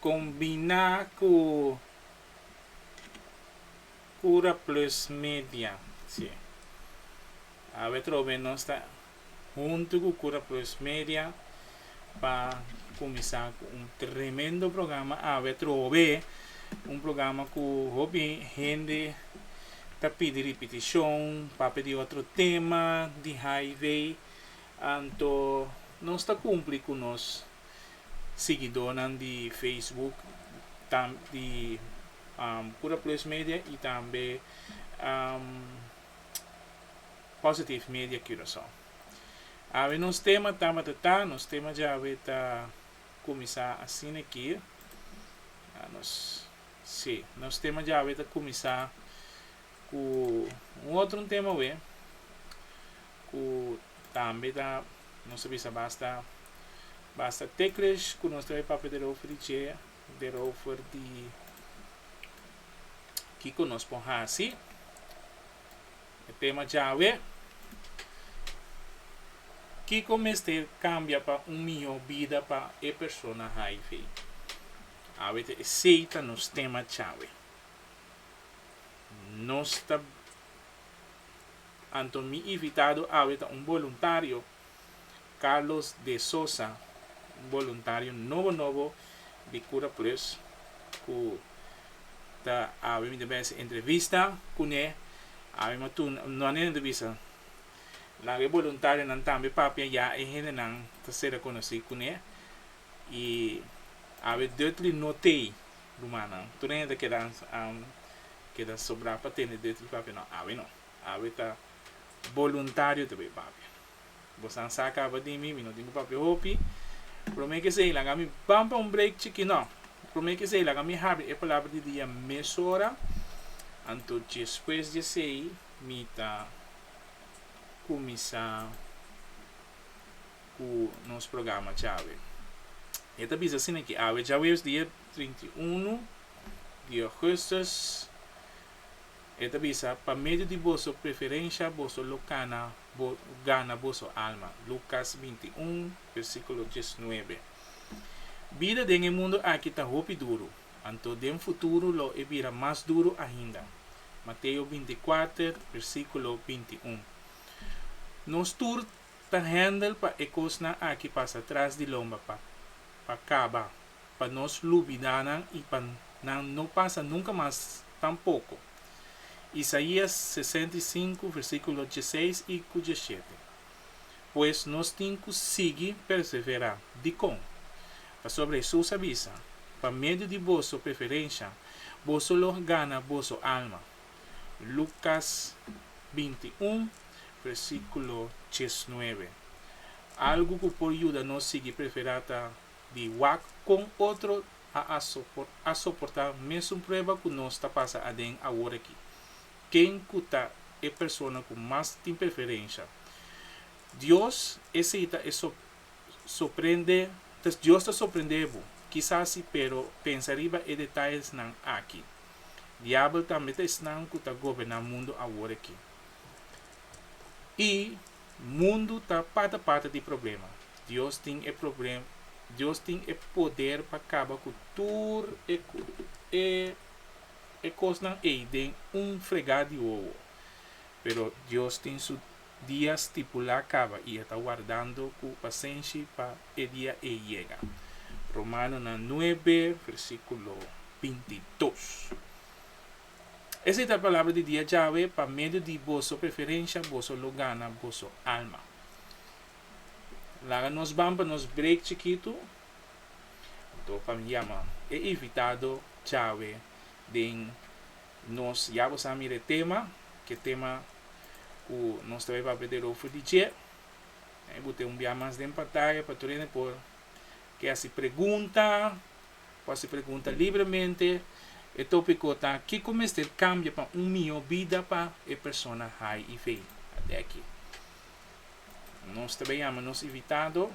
Combina cu Cura Plus Media. Sí. Awe trobe nos ta hunto cu Cura Plus Media pa cuminsa cu un tremendo programa awe trobe. Un programa cu hopi hende ta pidi repeticion, papia di otro tema di highway. Anto nos ta cumpli cu nos. siguidónan di Facebook, tam di Pura Plus Media i tambe Positive Media Curaçao. Awe nos tema tabata ta, nos tema djawe ta kuminsá asina ki, nos, sí, nos tema djawe ta kuminsá ku un otro un tema awe. ku tambe ta nos ta bisa basta basta teklish ku nos ta e papia derover di dje derover di kiko nos por hasi e tema djawe kiko mester kambia pa un mihó bida pa e persona hiv awe ta esei ta nos tema djawe nos ta Anto mi invitado awe ta un boluntario, Carlos de Sosa, un boluntario nobo nobo di Cura Plus cu ta awe mi ta mester entrevista cune, awe mi a tuna, no anina entrevista, laga e boluntarionan tambe papia ya e hendenan ta ser a conoci cune y awe Dudley no tey. Rumannan, tur den e ta keda am keda sobra pa tende dreto di papia? No, awe no. Awe ta boluntario ta bay papia. Bosan sa caba di mi, mi no tin cu papia hopi. Prome ke esey laga mi ban pa un break chiki. No, prome ke esey laga mi habri e palabra di dia mesora. Anto despues di esey mi ta cuminsa. ku nos programa Chawe. E ta bisa asina ki awe djaweus dia trinta i unu di Augustus e ta bisa pa medio di boso preferensha boso lo kana bo gana boso alma, Lukas binti i un versikulo dies nuebe. Bida den e mundu aki ta hopi duru, anto den futuru lo e bira mas duru ainda, Mateo binti i kuater versikulo binti i un. Nos tur Ta hèndel pa e kosnan aki pasa tras di lomba pa pa kaba, pa nos lubidá nan i pa nan no pasa nunka mas tampoko. Isaías sesenta i sinku versíkulo dieseis i ku diesshete. Pues nos tin ku sigui perseverá. Dikon? Pasobra Hesus a bisa, Pa medio di boso preferensha, boso lo gana boso alma. Lucas binti un, versiculo diesnuebe. Algu cu por yuda nos sigui preferá ta di wak con otro a soportá mesun prueba cu nos ta pasa aden awor aki. Ken cu ta e persona cu mas tin preferencia? Dios esei ta e Sorprende, ta, Dios ta sorprende bo? Kisá sí, pero pensa riba e detayesnan aki, Diabel tambe ta esnan ku ta goberná mundu awor aki. I mundu ta pata pata di problema. Dios tin e problem, Dios tin e poder pa kaba ku tur e, e, e kosnan ei den un fregá di wowo. Pero Dios tin Su. Dia stipulá kaba i e ta wardando ku pasenshi pa e dia ei yega. Romanonan nuebe, versíkulo binti dos. Esei ta palabra di dia Yahweh, Pa medio di boso preferensha boso lo gana boso alma. Laga nos ban pa nos break chikitu, anto pa mi yama e invitado Yahweh den Nos ya bo sa mira e tema, ke tema ku nos ta bai papia der ofri di dje. Bo tin un bia mas den pantaya pa tur hende por ke hasi pregunta, por hasi pregunta libremente. E topiko ta kiko mester kambia pa un mihó bida pa e persona hiv. Ate aki nos ta bai yama nos invitado,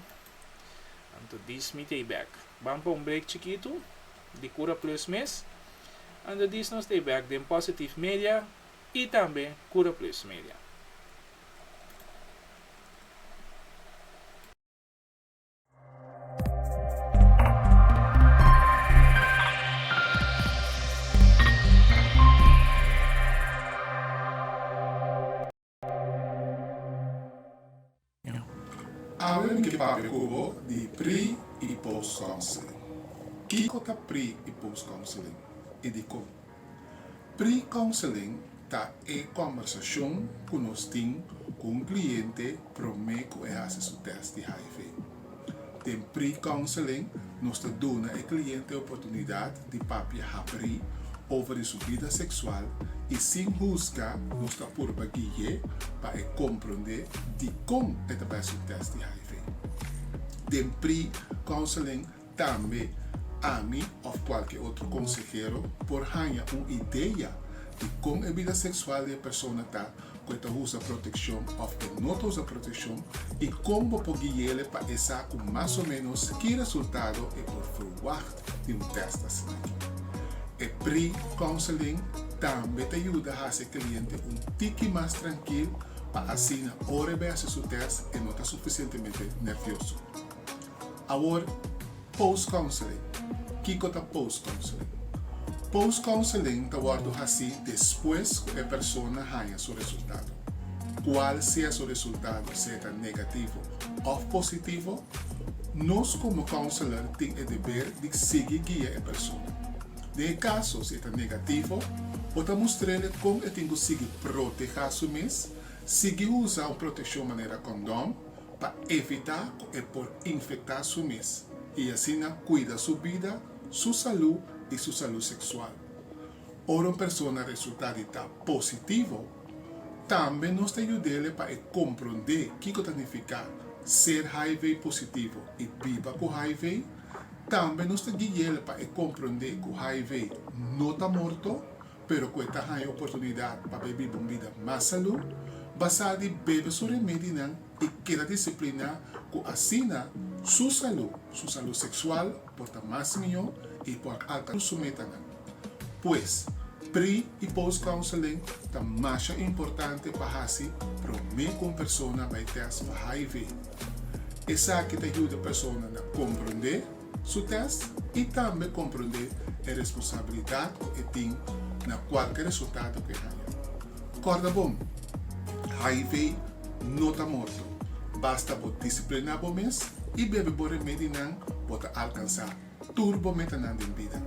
anto dis mi ta e bèk. Ban pa un brek chikitu. di Cura Plus mes, Anda Dis Nos Stay Back den Positive Media y tambe Cura Plus Media. Awe mi ke papia ku bo di pre i post counseling. Kiko ta pre i post counseling i dikó? Pre counseling ta e kòmbersashon ku nos tin ku un kliente promé ku e hasi su tèst di hiv. Den pre-counseling nos ta duna e kliente oportunidat di papia hapri over di su bida seksual i sin husga nos ta purba gui'é pa e komprondé dikon e ta bai su tèst di hiv. Den pre-counseling tambe ami òf kualke otro konsehero por haña un idea di kon e bida seksual di e persona ta cu e ta usa proteccion of e no ta usa proteccion y con bo por guiele pa e sa cu mas o menos ki resultado e por verwacht di un test asinaki. E pre-counseling tambe ta yuda haci e cliente un tiki mas trankil pa asina ora e bai haci su test e no ta suficientemente nervioso. Awor, Post Counseling. Kiko ta Post Counseling? Post Counseling ta wòrdu hasí despues ku e persona haña su resultado. Kual sea su resultado, sea ta negativo òf positivo, nos komo counselor tin e deber di sigui guia e persona. Den e kaso si e ta negativo, bo ta mustr'e kon e tin ku sigui protehá su mes, sigui usa un proteshon manera kondòn, pa evitá ku e por infektá su mes i asina kuida su bida, su salú i su salú seksual. Ora un persona resultá di ta positivo, tambe nos ta yud'e pa e komprondé kiko ta nifiká ser HIV-positivo i biba ku HIV. Tambe nos ta gui'é pa e komprondé ku HIV no ta morto, pero cu e ta haña oportunidad pa bebe un bida mas salú, basá di bebe su remedinan i keda disipliná cu asina su salú, su salú sexual, por ta mas mihó i por alcansa su metanan. Pues, pre i post counseling ta masha importante pa haci promé cu un persona bai test pa hiv. Esaki ta yuda persona na comprendé. su tèst i tambe komprondé e responsabilidat ku e tin na kualke resultado ku e haña. Kòrda bon, hiv no ta morto, basta bo disipliná bo mes i bebe bo remedinan bo ta alkansá tur bo metanan den bida.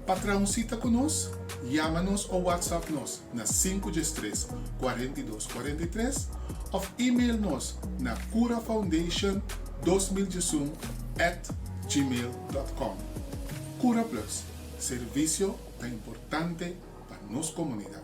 Pa traha un sita ku nos, yama nos o whatsapp nos na sinku djes tres kuarenta i dos kuarenta i tres òf e-mail nos na curafoundation dos mil diesun at gmail dot com. Cura Plus, servisio ta importante pa nos komunidat.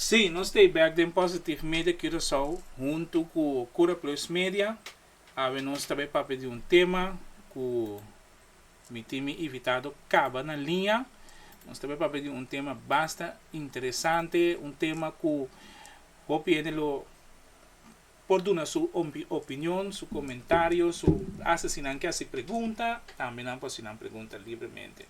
Sí, nos ta bek den Positive Media Curaçao huntu ku Cura Plus Media, awe nos ta bai papia di un tema ku mi tin mi invitado kaba na liña. Nos ta bai papia di un tema basta interesante, un tema ku hopi hende lo. por duna su opinion, su comentario, su asta si nan ke haci pregunta tambe nan por haci nan pregunta libremente.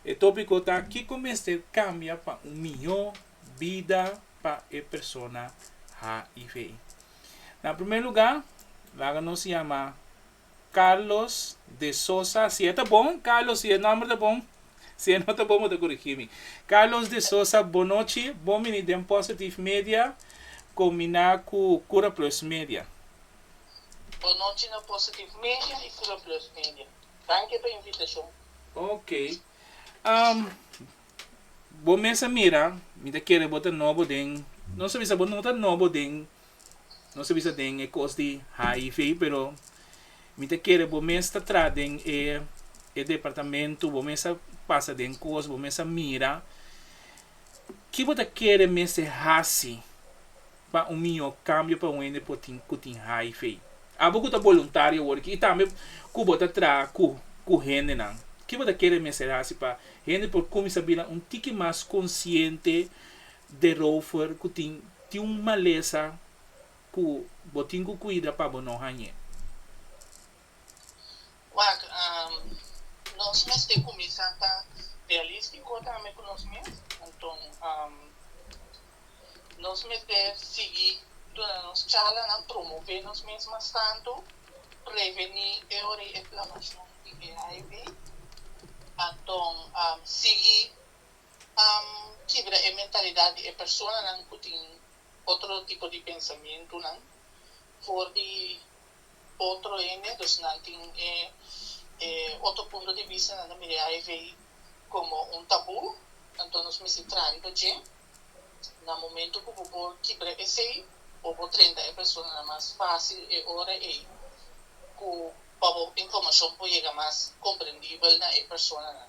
E topico ta Kico mester cambia pa un mijo bida pa e persona HIV? Na primer lugar laga nos yama Carlos de Sosa, si e ta bon, Carlos, si e nomber ta bon, si e no ta bon bo ta corigi mi. Carlos de Sosa, bon nochi, bo bini den Positive Media combina cu Cura Plus Media. Bon nochi na Positive Media y Cura Plus Media. Danki pa invitacion. Ok. Um, bo mes a mira, mi ta kere bo ta nobo den, no sa bisa bo no ta nobo den. no sa bisa den e kos di hiv pero mi ta kere bo mes ta traha den e e departamento bo mes a pasa den kos bo mes a mira ki bo ta kere mester hasi pa un mihó kambio pa un hende por tin ku tin hiv abo ku ta boluntario awor aki i tambe ku bo ta traha ku ku hendenan ki bo ta kere mester hasi pa hende por kuminsá bira un tiki mas konsiente Derover cu tin tin un malesa cu bo tin cu cuida pa bo no hañe. Wak, Nos mester cuminsa ta realistico tambe cu nos mes. Anton, nos mester sigui duna nos charlanan, promove nos mes mas tanto, preveni e ora y e plabacion di HIV. Anton, sigui. a kibra e mentalidad di e personanan cu tin otro tipo di pensamentunan for di otro hende, dus nan tin e e otro punto di vista, nan ta mira e hiv como un tabú, anto nos misti traha riba dje, na momento cu bo por kibra esey bo por trenta e personanan mas facil e ora ey cu pa bo informacion por yega mas comprendible na e personanan.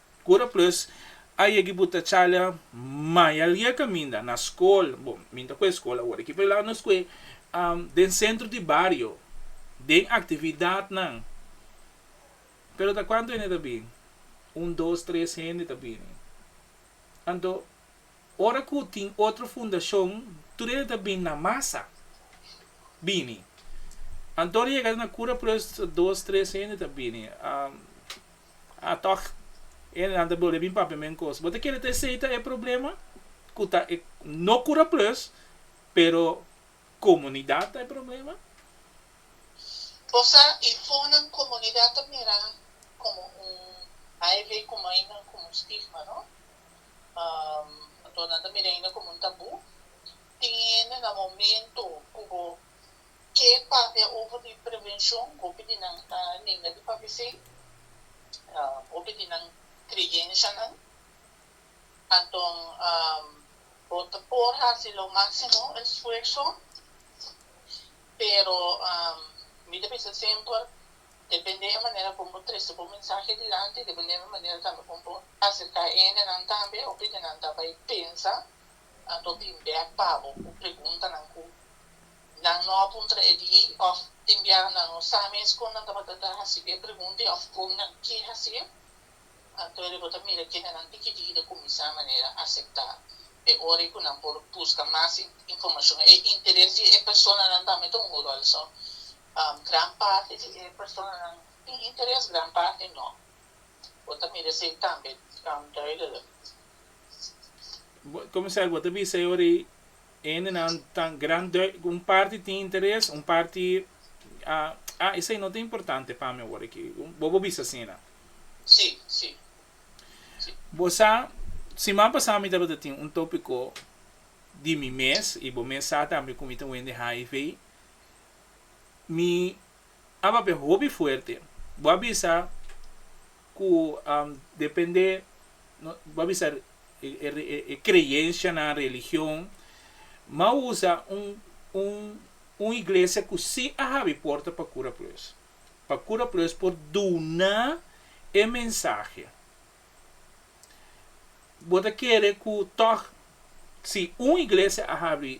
Cura plus, a yegi bu ta chala maya lia caminda na scol, bo, mi ta cue scol awor aki, pero laga nos cue den centro di bario, den actividadnan, pero ta cuanto hende ta bini? Un, dos, tres hende ta bini. Anto, ora cu tin otro fundacion, tur hende ta bini na masa, bini. Anto ora yega na cura plus dos, tres hende ta bini. Ah tòg, e nan ta bolbe bin papia men kos. Bo ta kere ta esei ta e problema? Ku ta e, no Kura Plus, pero komunidat ta e problema? O sa i fonan komunidat ta mira komo un, ai vei komo ainda komo un stigma, no? Anto nan ta mira ainda komo un tabú. Tin hende na momento ku bo Ke papia over di prevenshon hopi di nan ta ninga di papia esei, hopi di nan kreyenshanan. Anton bo ta por hasi lo máksimo esfuerso, pero mi ta pensa semper depende e manera kon bo trese bo mensahe dilanti, depende e manera tambe kon bo aserká hendenan tambe, hopi di nan ta bai pensa a tor bin bek pabo cu preguntanan cu nan no a puntra e di of tin biaha nan no sa mes con nan tabata ta haci e pregunta y of con nan ke haci'e. Anto e riba ta mira ke genan tikitiki ta cuminsa manera acepta e ora y cu nan por busca mas informacion. E interes di e personanan tambe ta un rol so gran parti di e personanan tin interes gran parti no. Bo ta mira esey tambe duidelijk. como se bo te bisa ori ende nan tan gran un parti tin interes un parti ah ah esei no ta importante pa mi awor aki bobo bisa asina si si si bo sa siman pasa mi tabata tin un topico di mi mes y bo mes sa tambe cu mi ta wen di hiv mi a papia hopi fuerte bo a bisa cu depende bo a bisa e creyencia nan religion ma usa un iglesia cu si a habi porta pa cura plus pa cura plus por duna e mensahe bo ta kere cu tog si un iglesia a habi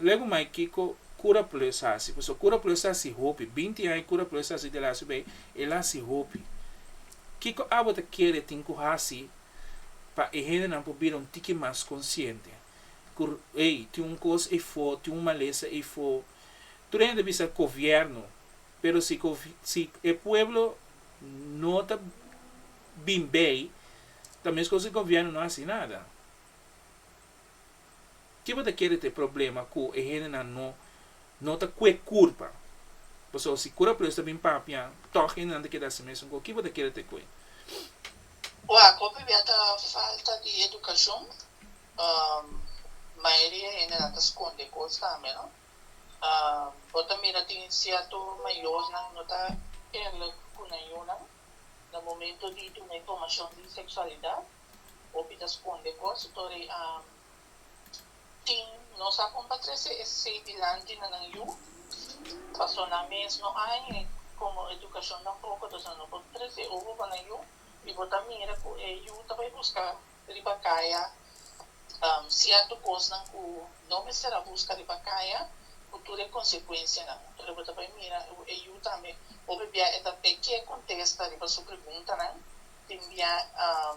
Luego mai kiko Cura Plus hasi? Pasobra Cura Plus hasi hopi, binti aña Cura Plus hasi di lasu bay, el hasi hopi. Kiko abo ta kere tin ku hasi pa e hendenan por bira un tiki mas konsiente ku ey tin un kos eyfo, tin un malesa eyfo? Tur hende ta bisa Kovièrnu, pero si si e pueblo no ta bin bey ta meskos ku e Govièrnu no hasi nada. Ke bo ta kere ta e problema ku e hendenan no no ta kwek kurpa? Paso si kura por esu ta bin papia, tòg hendenan ta keda así mesun ku ke bo ta kere ta e kwek? Ua, hopi bia ta falta di edukashon. Mayoria hendenan ta skonde kos tambe, no? Bo ta mira tin sierto mayornan no ta kere ku nan yunan na momento di duna informashon di seksualidat. Hopi ta sconde cos torí tin nos a con pa trece esey dilanti na nan yu, paso nan mes no hay y como educacion tampoco entonces nan no por trece obo pa nan yu y bo ta mira cu e yu ta bay busca riba caya cierto cosnan cu no mester a busca riba caya cu tur e consecuencianan entonces bo ta bay mira e yu tambe hopi bia e ta pe kier contesta riba su preguntanan. Tin bia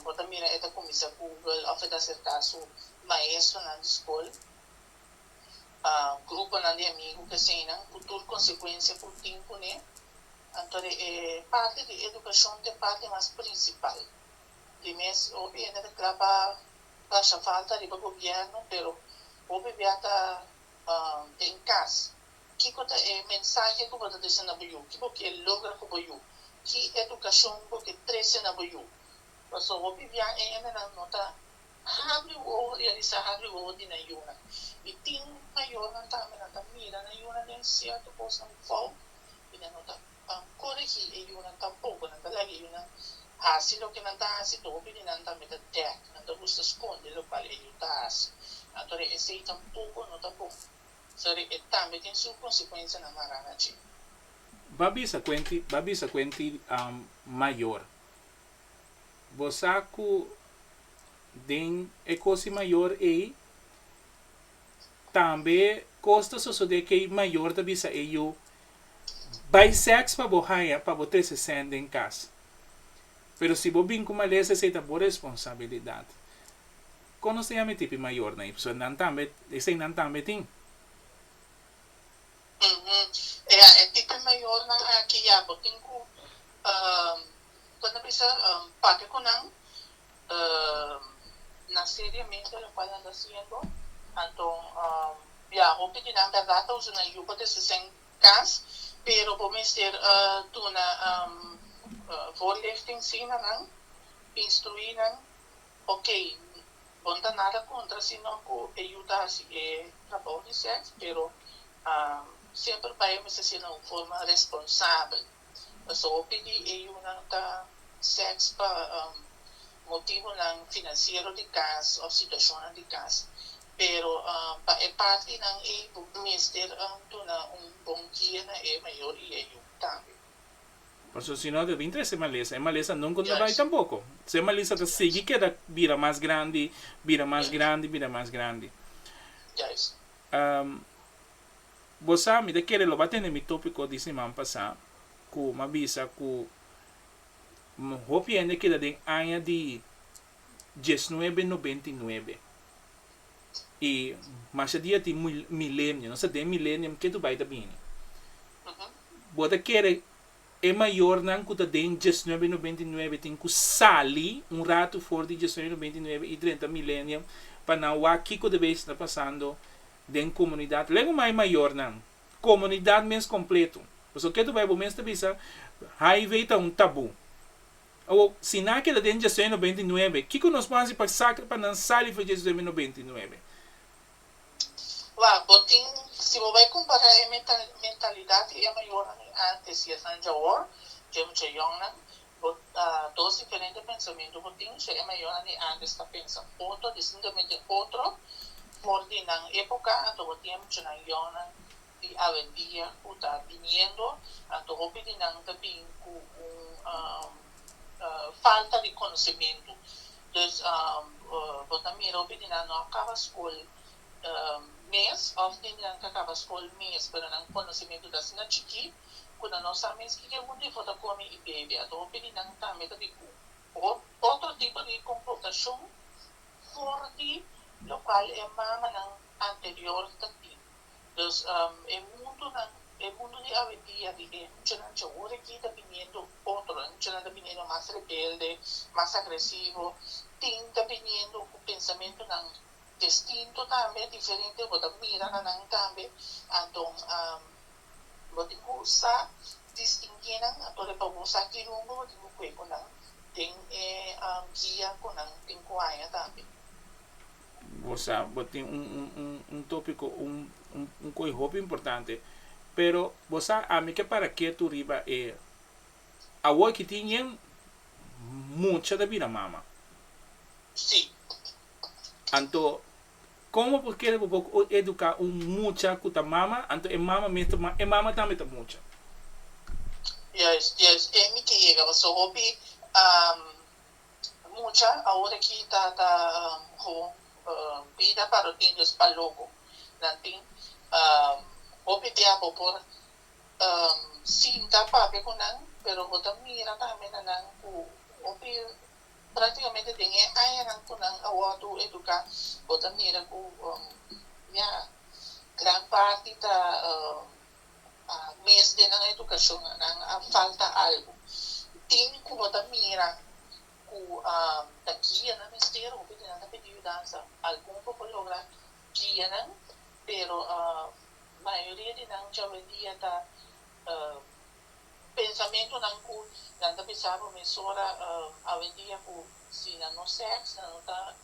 bo ta mira e ta kuminsa Google òf e ta aserká su maestronan di skol, gruponan di amigu, keseinan, ku tur konsekuensia ku tin kuné. Anto e parti di edukashon ta e parti mas prinsipal. Tin mes hopi hende ta kla pa basha falta riba gobièrnu, pero hopi bia ta den kas. Kiko ta e mensahe ku bo ta desen na bo yu? Ki bo ke logra ku bo yu? Ki edukashon bo ke trese na bo yu? Pasobra hopi bia e hendenan no ta habri wowo realisá habri wowo di nan yunan. I tin mayornan tambe nan ta mira nan yunan den sierto kosnan fout i nan no ta ban koregí e yunan tampoko. Nan ta laga e yunan hasi loke nan ta hasi. Hopi di nan tambe ta dèk, nan ta gusta skonde lokual e yu ta hasi. Anto esei tampoko no ta bon. Sari e tambe tin su konsekuensianan mará na dje. Ba bisa ku e tin, ba bisa ku e tin mayor. Bo sa ku den e kosi mayor ei tambe kos ta sosodé ku e mayor ta bisa e yu, Bai sèks pa bo haña pa bo trese sèn den kas. Pero si bo bin ku malesa esei ta bo responsabilidat. Conoce a mi tipi mayornan y pasobra nan tambe, esey nan tambe tin. Umm, ya, e tipi mayornan aki ya bo tin cu, umm, bo na bisa, umm, papia cu nan, umm, na seriamente locual nan ta haciendo, anto, umm, ya, hopi di nan berdad ta usa nan yu pa ta hasi sey cas, pero bo mester, umm, duna, umm, voorlichting si na nan, instrui nan, Ok, bon ta nada contra sino cu e yuda haci e trabou di seks, pero semper bai a mester ser na un forma responsabel. Pasobra hopi di e yunan ta seks pa motibonan financiero di cas of situacionnan di cas, pero pa e partinan ey bo mester duna un bon guia na e mayor y e yu tambe. Pasobra si no ta bin trese malesa. E malesa nunca no ta bai tampoco. So e malesa ta sigui keda bira mas grandi, bira mas grandi, bira mas grandi. Bo sa, mi ta kere lo ba tende mi topico di siman pasá cu m'a bisa cu hopi hende keda den aña di diesnuebe, nobenta i nuebe. y masha dia tin milenio nos ta den milenium ke tu bai ta bini bo ta kere e mayor nan ku ta den diesnuebe no bintinuebe tin ku sali un ratu for di diesnuebe no bintinuebe y drenta milenium pa nan wak kiko ta bes ta pasando den comunidad lego mai mayor nan comunidad mes completo pasobra ke tu bai bo mes ta bisa hiv ta un tabu. Awor, si nan a keda den dje sueño beinti nuebe, kiko nos por hasi pa sakre pa nan sali for dje sueño no beinti nuebe? Wak, bo tin, si bo bai kumpará e mentalidat di e mayornan di ántes i esnan di awor, dje mucha yòngnan, bo, dos diferente pensamentu bo tin, so e mayornan di ántes ta pensa otro, distintamete otro for di nan époka, anto bo tin e muchanan yòngnan. di alegria ku ta biniendo, anto hopi di nan ta bin ku un falta di konosementu. Dus bo ta mira hopi di nan no a kaba skol mes òf tin di nan ku a kaba skol mes pero nan konosementu ta asina chikí ku nan no sa mes kiko e ku debó ta kome i bebe. Anto hopi di nan tambe ta bin ku otro tipo di komportashon for di lokual e mamanan anterior ta tin. Entonces e mundonan, e mundo di awendia di e muchanan cha ora ki ta biniendo otro, e muchanan ta biniendo mas rebelde, mas agresivo, tin ta biniendo cu pensamentonan destinto tambe, diferente, bo ta mira na nan tambe, anto bo tin cu sa distinguie nan, anto riba bo sa ki rumbo bo tin cu cue cu nan den e guia cu nan tin cu haña tambe. Bo sa bo tin un un un un topiko un un un kos hopi importante pero bo sa ami ke para ketu riba e awor ki tin yen mucha ta bira mama Sí. anto como bo kere bo bo o educa un mucha ku ta mama anto e mama mes ta e mama tambe ta mucha. Juist juist e mi ke yega paso hopi. mucha awor aki ta ta ho bida paro tin dios pa loco nan tin hopi bia bo por sinta papia cu nan pero bo ta mira tambe na nan cu hopi practicamente den e añanan cu nan a wordo educa bo ta mira cu ya gran parti ta. a mes den nan edukashon nan a falta algu tin ku no ta mira ku ta guia nan mester hopi di nan ta pidi yudansa algun por por logra guia nan pero mayoria di nan djawendia ta pensamentunan ku nan ta pensaba mesora awendia ku si nan no seks nan no ta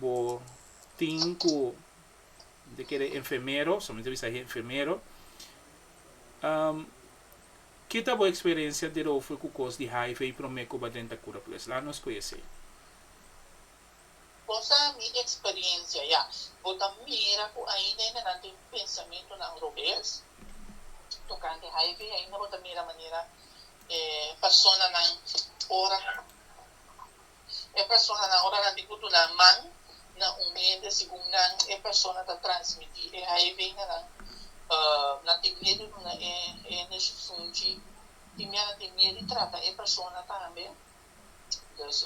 Bo tin ku mi ta kere enfermero, so mi ta bisa e enfermero. Um, ki ta bo eksperensia derover ku kos di HIV i promé ku ba den ta kura? Pues la nos koe esei. Kosa mi eksperensia, ya. Bo ta mira ku ainda hendenan tin pensamentunan robes tokante HIV. Ainda bo ta mira manera e personanan ora. E personanan, ora nan tin ku duna man na un hende segun nan e persona ta transmití e hiv na nan, nan tin miedu duna e hende shunshi. Timia nan tin miedu di trata e persona tambe. Dus,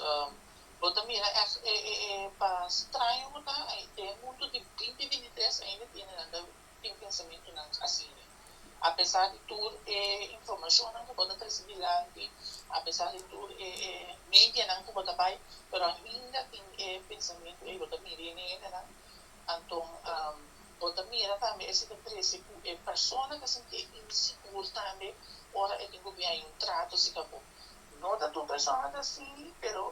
bo ta mira èf e pa straño ku ta den mundu di binti binti tres ainda tiene nan ta tin pensamentunan asina. Apesar di tur e informashonnan ku bo ta trese dilanti, apesar di tur e e medianan ku bo ta bai, pero ainda tin e pensamentu ei, bo ta mira e hendenan. Anto bo ta mira tambe esei ta trese ku e persona ta sinti e insigur tambe ora e tin ku bin hay un trato si ku abo. No ta tur persona ta asi, pero.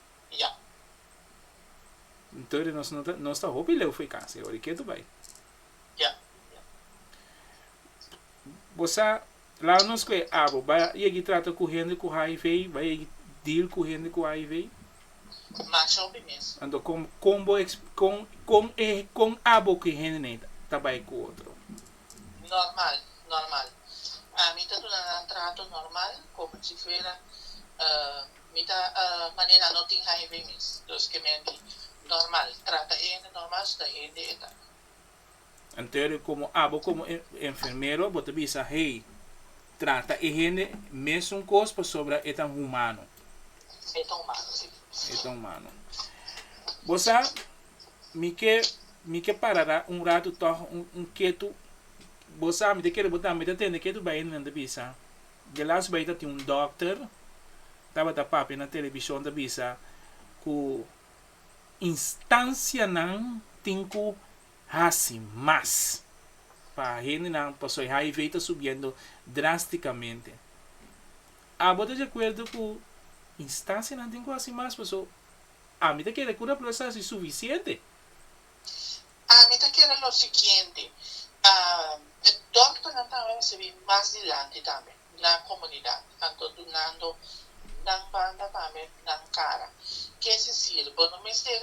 ya. Tori nos no ta, nos ta hopi leu foi casa e ori ketu bai. Ya. Bosa laga nos ku e abo ba yegi trata ku hende ku hiv, ba yegi deal ku hende ku hiv? Masha hopi mes. Anto kon kon bo eks kon kon e kon abo ku e hende nei ta bai ku otro? Normal, normal. Ami ta duna nan trato normal komo si fuera Mi ta manera no tin haña bay mes dos ke menti normal trata e hende normal su ta hende e ta. Anterio komo abo komo enfermero bo ta bisa hey trata e hende mesun kos pasobra e ta humano. E ta humano si. E ta humano bo sa mi ke mi ke parara un ratu tog un ketu bo sa mi ta kere bo tambe ta tende ketu bay hende nan ta bisa. Delas bay ta tin un dokter tabata papia na television ta bisa ku instansianan tin ku hasi mas pa hendenan paso e hiv ta subiendo drastikamente. Abo ta di akuerdo ku instansianan tin ku hasi mas paso ami ta kere ku raplasa si sufisiente. Ami ta kere lo siguiente, e dòkternan ta recibi mas dilanti tambe na comunidad, anto dunando nan banda tambe nan cara. Kier decir, bo no mester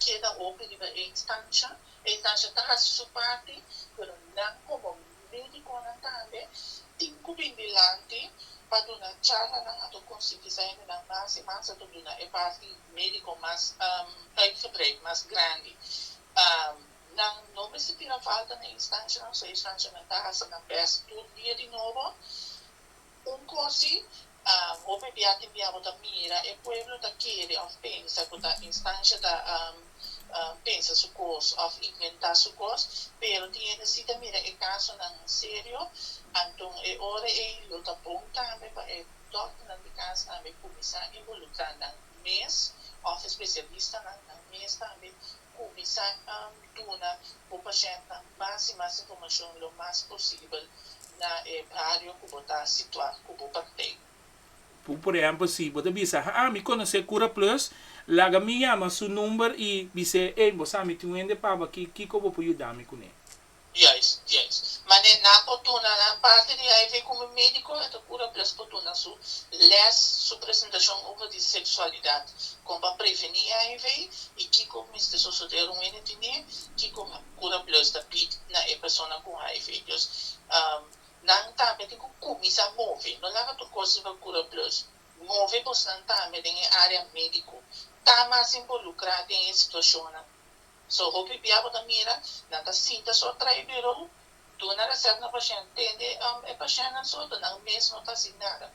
keda hopi riba e instancia, e instancia ta haci su parti, pero nan como. Medikonan tambe tin ku bin dilanti pa duna charlanan ato konsientisá hendenan mas i mas ato duna e parti médiko mas uitgebreid, mas grandi. Nan no mester tira falta na e instanshanan, so e instanshanan ta hasi nan bèst tur dia di nobo. Un cosi, hopi bia tin bia bo ta mira e pueblo ta kere of pensa cu ta instancia ta pensa su cos of inventa su cos, pero tin hende si ta mira e casonan serio, anton e ora ey lo ta bon tambe pa e dokternan di cas tambe cuminsa involucra nan mes of e specialistanan nan mes tambe Kuminsá duna bo pashentenan mas i mas informashon lo mas posibel na e bario ku bo ta situá ku bo praktijk. Por ehèmpel, si bo ta bisa, Haa, mi konosé Kura Plus, laga mi yama su number i bis'é, Ey, bo sa mi tin un hende papá akí, kiko bo por yuda mi kuné? Juis, juis. Manera nan por duna nan parti di HIV ku mi médiko e ta kura ples por duna su lès, su presentashon over di seksualidat, kon pa prevení HIV i kiko mester sosodé run ene di ne, kiko kura ples ta bid na e persona ku HIV. Dus nan tambe tin ku kuminsá move, no laga tur kos riba kura ples. Move bosnan tambe den e área médiko, ta mas involukrá den e situashonnan. So hopi bia bo ta mira, nan ta sinta so tra e biro, duna reset na pashent, tende e pashentnan so ta nan mes no ta hasi nada.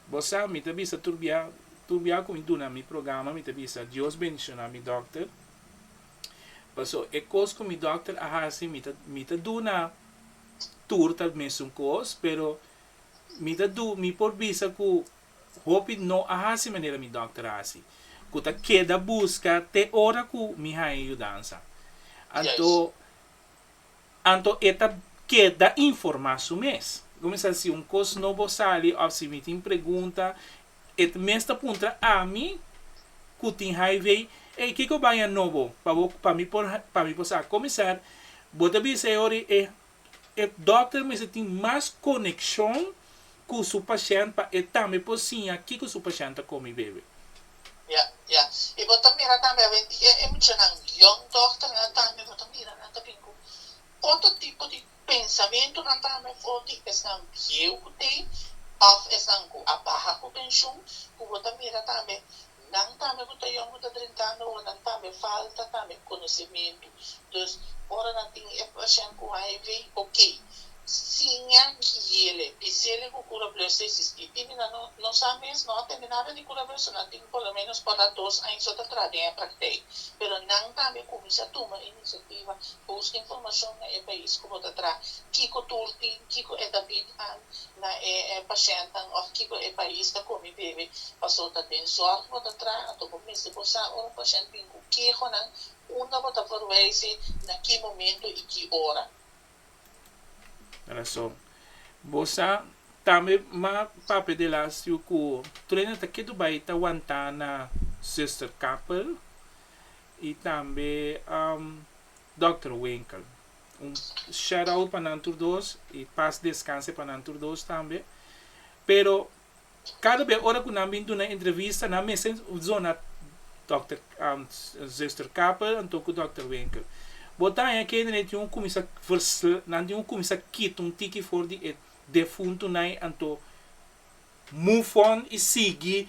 Bo sa, mi ta bisa tur bia, tur bia ku mi duna mi programa mi ta bisa Dios bendishona mi dòkter, paso e kos ku mi dòkter a hasi mi ta mi ta duna tur tal mesun kos, pero mi ta du mi por bisa ku Hopi no a hasi manera mi dòkter a hasi, ku ta keda buska te ora ku mi haña yudansa. Anto anto e ta keda informá su mes. Bo mi sa si un kos nobo a sali òf si mi tin pregunta, e ta mes ta puntra ami ku tin HIV, Ey, kiko baña nobo? Pa bo pa mi por pa mi por sa kuminsar. Bo ta bisa e ora i e E dòkter mester tin mas konekshon ku su pashènt pa e tambe por siña kiko su pashènt ta kome i bebe. Ya, ya. I bo ta mira tambe awe di e muchanan yòn dòkternan tambe bo ta mira nan ta bin ku otro tipo di pensamentunan tambe afó di esnan bieu ku tin òf esnan ku a baha ku penshun ku bo ta mira tambe Nan tambe ku ta yongu ta drinká nobo, nan tambe falta tambe konosementu. Entos, ora nan tin e pashènt ku hiv, oke, siña guiele, bisele ku kurableu ta esistí. Tin di nan no no sa mes, no a tende nada di kurableu, so nan tin por lo ménos por la dos aña so ta traha den e praktèk. Pero nan tambe kuminsá tuma inisiativa, buska informashon na e pais ku bo ta traha, kiko tur tin, kiko e ta bid an, na e e pashentan of kiko e pais ta komi bebe paso ta den zorg bo ta traha anto bo mester bo sa ora un pashent bin ku kehonan unda bo ta por wijse na ki momento i ki ora. Rason. Bo sa tambe ma papia de la siu ku Trina ta ketu bai ta wanta na Zuster Kappel i tambe Dòkter Winkel. Un shout out pa nan tur dos i pas descanse pa nan tur dos tambe. Pero cada bes ora cu nan bin duna entrevista nan mester zona Dòkter Zuster Kappel anto cu Dòkter Winkel. Bo ta haña kende nan tin un cuminsa nan tin un cuminsa kita un tiki for di e defuntunan anto move on i sigui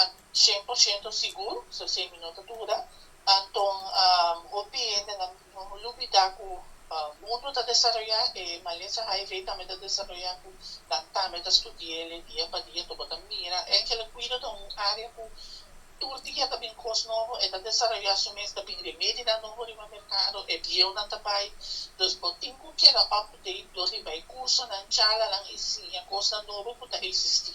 An cien por ciento sigur, so semi no ta duda. Anton hopi hende nan no por lubida cu mundo ta desaroya, e malesa hiv tambe ta desaroya cu nan tambe ta studiele dia pa dia, ta bota mira. Angela Guido ta un area cu tur dia ta bin cos nobo, e ta desaroya su mes, ta bin remedinan nobo riba mercado, e bieunan ta bay. Dus bo tin cu keda up-to-date dor riba e cursonan, charlanan y siña cosnan nobo cu ta existi.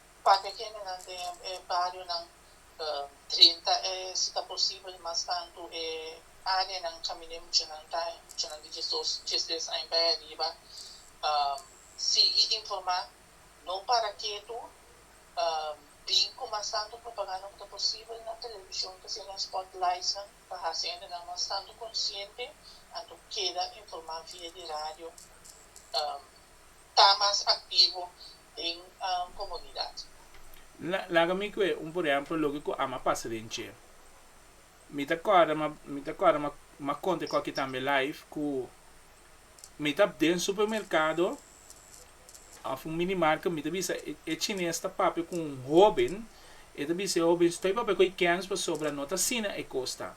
Pake gentenan den e barionan drenta e si ta posibel mas tantu e areanan kaminda muchanan ta e muchanan di diesdes aña bai ariba sigui informá no para ketu bin ku mas tantu propaganda ku ta posibel na television ta siña nos spot lightsnan pa hasi hendenan mas tantu konsiente anto keda informá via di radio. ta mas aktivo den komunidat. Laga mi kue un por ehèmpel loke ku ama pasa den Che. Mi ta kòrda ma mi ta kòrda ma ma konte koki tambe live ku mi ta den supermerkado òf un mini marke mi ta bisa e e chines ta papia ku un hoben e ta bisa e hoben stoi papia ku e kèns pasobra no ta asina e kos ta.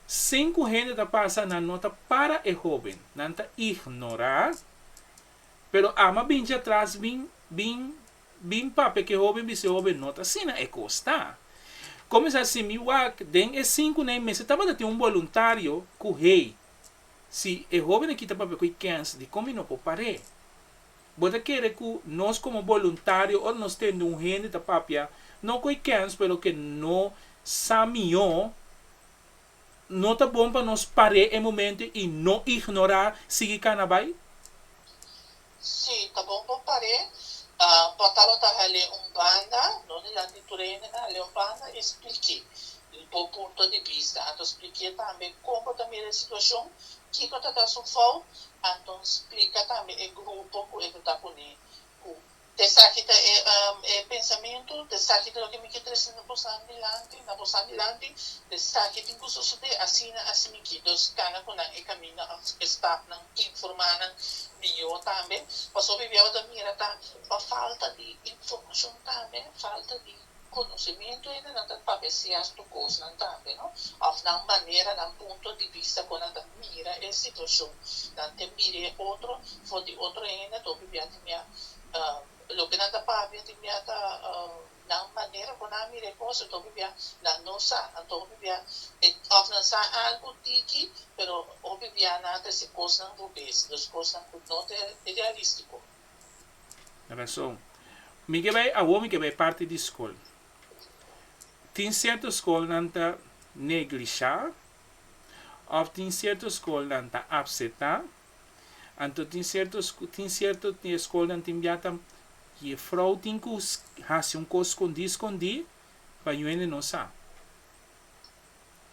Sin ku hende ta pasa nan no ta para e hoben nan ta ignorá. Pero ama bin djatras bin bin bin papia ke hoben bis'e hoben not asina e kos ta. Komes asi mi wak den e sinku nei mester tabata tin un boluntario ku hei si e hoben a kita papia ku e kens di kon mi no por par'é. Bo ta kere ku nos komo boluntario or nos tende un hende ta papia no ku e kens pero ke no sa mihó. no ta bon pa nos par'é e momento i no ignorá sigui kana bai? Sí, ta bon pa un par'é. Por ta lo ta hal'é un banda, no di lati tur hende na hal'é un banda i splik'é bo punto di bista. Anto splik'é tambe kon bo ta mira e situashon, kiko ta ta su fout, anto splika tambe e grupo ku e ta ta kuné ku Esaki ta e pensamentu, esaki ta loke mi ke trese na bosan dilanti, na bosan dilanti, esaki tin ku sosodé, asina, asi mi ki. Entos kana ku nan e kaminda òf e stafnan informá nan mihó tambe. Pasobra biaha bo ta mira ta pa falta di informashon tambe, falta di. Konosementu ene nan ta pa Mesias tur kosnan tambe, no? Òf nan manera, nan punto di bista kon nan ta mira e situashon. Nan ke mira e otro for di otro hende ta hopi bia ti mia. Loke nan ta papia ti mia ta nan manera ku nan a mira e kos, ta hopi bia nan no sa. Anto hopi bia òf nan sa algu tiki, pero hopi bia nan a trese kosnan rubes, dos kosnan ku no ta realístiko. Rason, mi ke bai awor mi ke bai parti di skol. Tin sierto skol nan ta neglisha of tin sierto skol nan ta apseta, anto tin sierto tin sierto skol nan tin bia ta jefrou tin ku hasi un kos skondi skondi pa yuende no sa.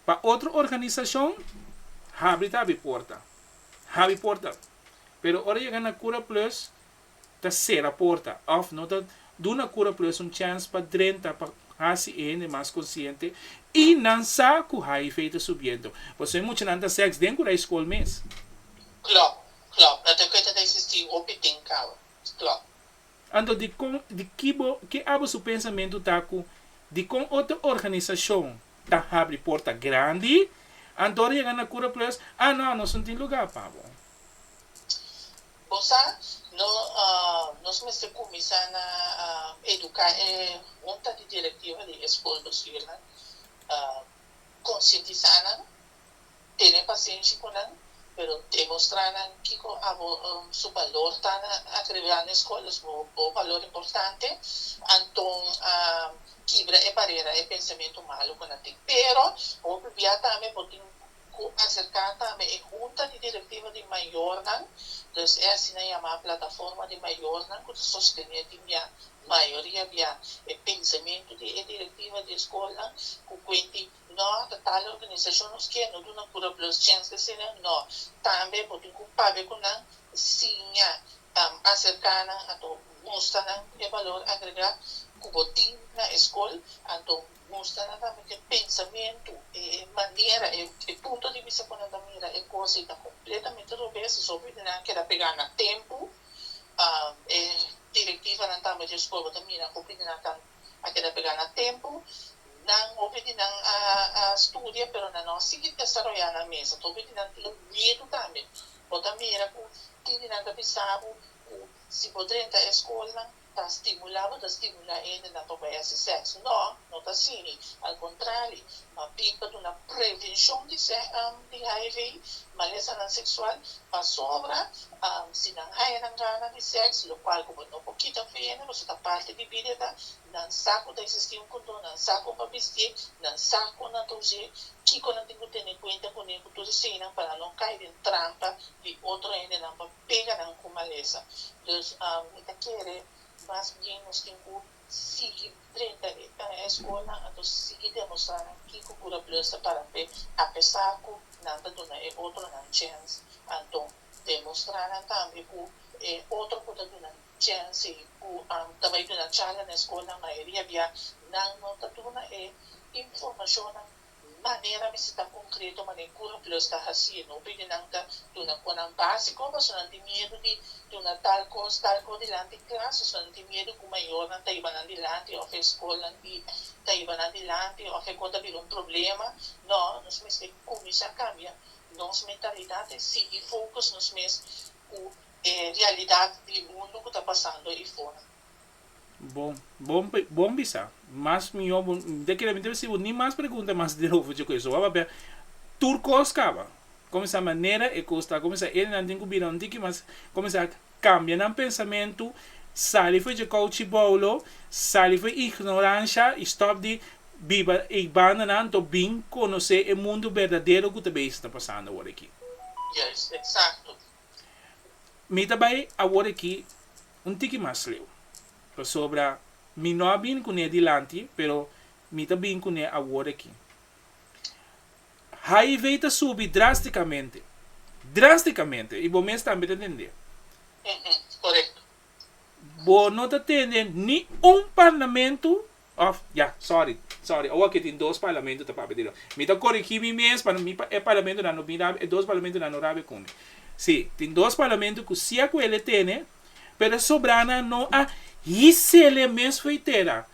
Pa otro organisashon, habri ta habri porta. Habri porta. Pero ora yega na Kura Plus, ta sera porta, òf no ta duna Kura Plus un chèns pa drenta, pa hasi e hende mas konsiente, i nan sa ku hiv ta subiendo. Pasobra e muchanan ta sèks den kura e skol mes. Klò, klò. No ta kue ta ta eksistí hopi tin kaba. Klò. Anto dikon, di ki bo, ke abo su pensamentu ta ku dikon otro organisashon Ta habri porta grandi. Antor yega na Cura Plus, Ah no, nos no tin lugar pa bo. Bo sa, no, nos mester cuminsa na educa e hunta di directiva di e school nos hiernan, concientisa nan. Tene pasenshi ku nan, pero demostrá nan kiko abo su balor ta na akribilá na e skol, es bo bo balor importante. Anton a kibra e barera e pensamentu malu ku nan tin. Pero bo prubiá tambe bo tin ku aserká tambe e hunta di direktiva di mayornan, dus e asina yamá plataforma di mayornan ku ta sostené tin bia mayoria bia e pensamentu di e direktiva di e skolnan ku kuenti No ta tale organisashon nos ke no duna kura plus chens ke sene, no. Tambe bo tin ku pabia ku nan, siña, aserká nan anto mustra nan e balor agregá ku bo tin na e skol, anto mustra nan tambe ku e pensamentu, e manera, e punto di bista ku nan ta mira e kos ei ta kompletamente robes, i sòpia di nan keda pegá na tempu, e direktivanan tambe di e skol bo ta mira hopi di nan ta a keda pega nan tempu, nan hopi di nan a a studia pero nan no a sigui desaroya nan mesa, ta hopi di nan tin miedu tambe, bo ta mira ku tin di nan ta bisa bo ku si bo drenta e skolnan ta stimula bo, ta stimula hendenan pa bai hasi sèks, no, no ta asina, al kontrali mabin pa duna prevenshon di HIV, malesanan seksual, Pasobra si nan haya nan gana di seks, lokual ku bo no por kita fe ende, boso ta parti di Biblia ta, nan sa ku ta eksistí un kondon, nan sa kon pa bistié, nan sa kon nan ta us'é, kiko nan tin ku tene kuenta kuné ku tur esei nan pa nan no kai den trampa di otro hendenan pa pega nan ku malesa. Pues mi ta kere mas bien nos tin ku sigui drenta e tan e skolnan a ta sigui demostrá nan kiko kura Bleus ta para p'e apesá ku nan ta duna e otronan chèns. Anto demostrá nan tambe ku e otro ku ta duna chènsi ku ta bai duna charla na e skolnan mayoria bia nan no ta duna e informashonnan Manera mester ta konkreto manera Kura Plus ta hasi. No pidi nan ta duna konan básiko pasobra nan tin miedu di duna tal kos, tal kos dilanti klas pasobra nan tin miedu ku mayornan ta hiba nan dilanti òf e skolnan di ta hiba nan dilanti òf e kos ta bira un problema. Nò, nos mester kuminsá kambia nos mentalidat i sigui fokus nos mes ku e realidat di e mundu ku ta pasando afuera. Bon, bon bon bisa, mas mihó bo de kere mi ta bisa bo ni mas pregunta mas di over dje koes, papia tur kos kaba, kuminsá manera e kos ta kuminsá enan tin ku bira un tiki mas kuminsá kambia nan pensamentu, sali for dje kouchiboulo, sali for ignoransha i stòp di biba ei bandanan anto bin konosé e mundu berdadero ku ta bei ta pasando awor aki. Yes, eksakto. Mi ta bai awor aki un tiki mas leu, pasobra mi no a bin kuné dilanti, pero mi ta bin kuné awor aki. HIV ta subi drástikamente, drástikamente, i bo mes tambe ta entendé. Bo no ta tene ni un parlamentu Of, ya, sorry, sorry, owa ke tin dos parlamento ta papia di lo. Mi ta korigí mi mes pa mi pa e parlamentonan no bin rabia, e dos parlamentonan no rabia ku mi. Sí, tin dos parlamento ku si a kuel e tene, pero e sobranan no a hise lei mes for e tera.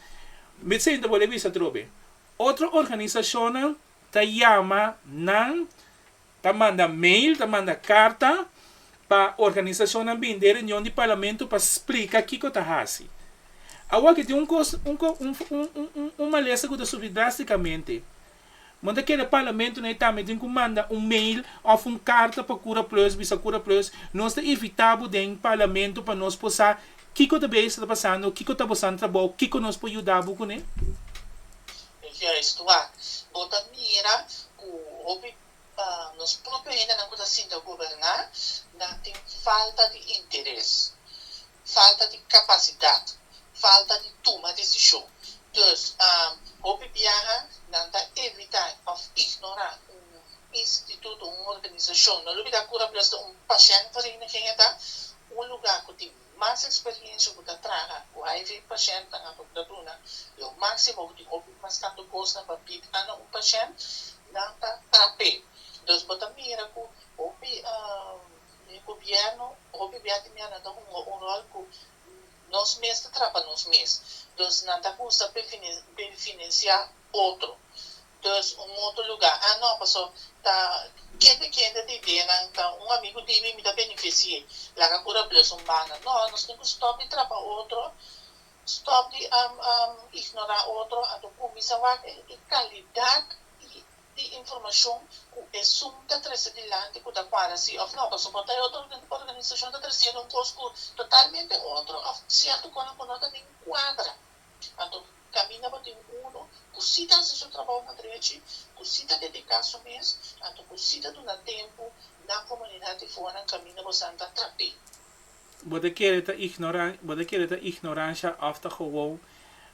Vicente a bole bisa atrobe, otro organisashonnan ta yama nan Ta manda mail, ta manda karta pa organisashonnan bini den reunion di parlamento pa splika kiko ta hasi. Awa aki tin un kos, un ko, un, un, un, un, un malesa ku ta sufri drástikamente. Bo no ta kere parlamentonan e tambe tin ku manda un mail òf un karta pa Kura Plus, bisa Kura Plus, nos ta invitá bo den parlamento pa nos por sa kiko ta bei e sta pasando, kiko ta bosan trabou, kiko nos por yuda bo kuné? Juist tua. Bo ta mira cu hopi nos propio hendenan cu ta sinta goberna nan tin falta di interes, falta di capacidad, falta di tuma decision. Dus hopi biaha nan ta evita of ignora un instituto, un organisacion. No lo bida cu Rabios ta un pashent, Vereniging e ta un lugar cu tin mas eksperiencia ku ta traha ku hiv pashènt nan apo ta duna lo máksimo ku tin hopi mas tantu kosnan pa bigha na un pashènt nan ta kap'é. Entonces bo ta mira ku hopi gobièrnu hopi bia di miannan ta hunga un ròl ku nos mes ta traha pa nos mes. Entonces nan ta kusa pa e finansiá otro dus un moto luga a no paso ta kende kende ta idea nan ta un amigo di mi mi ta benefisié laga cu ta blus un banda no nos tin cu stop di trapa otro stop di ignora otro anto cuminsa wak e calidad di informacion cu esun ta trece dilanti cu ta cuadra si of no paso por ta e otro organisacion ta trecendo un cos cu totalmente otro of cierto conan cu no ta nin cuadra anto Caminda bo tin uno cu si ta haci su trabahonan drechi, cu si ta dedica su mes, anto cu si ta duna tempo na comunidad di fonan, caminda bo santa trap'e. Bo ta kere ta ignoran, bo ta kere ta ignorancia of ta gewoon,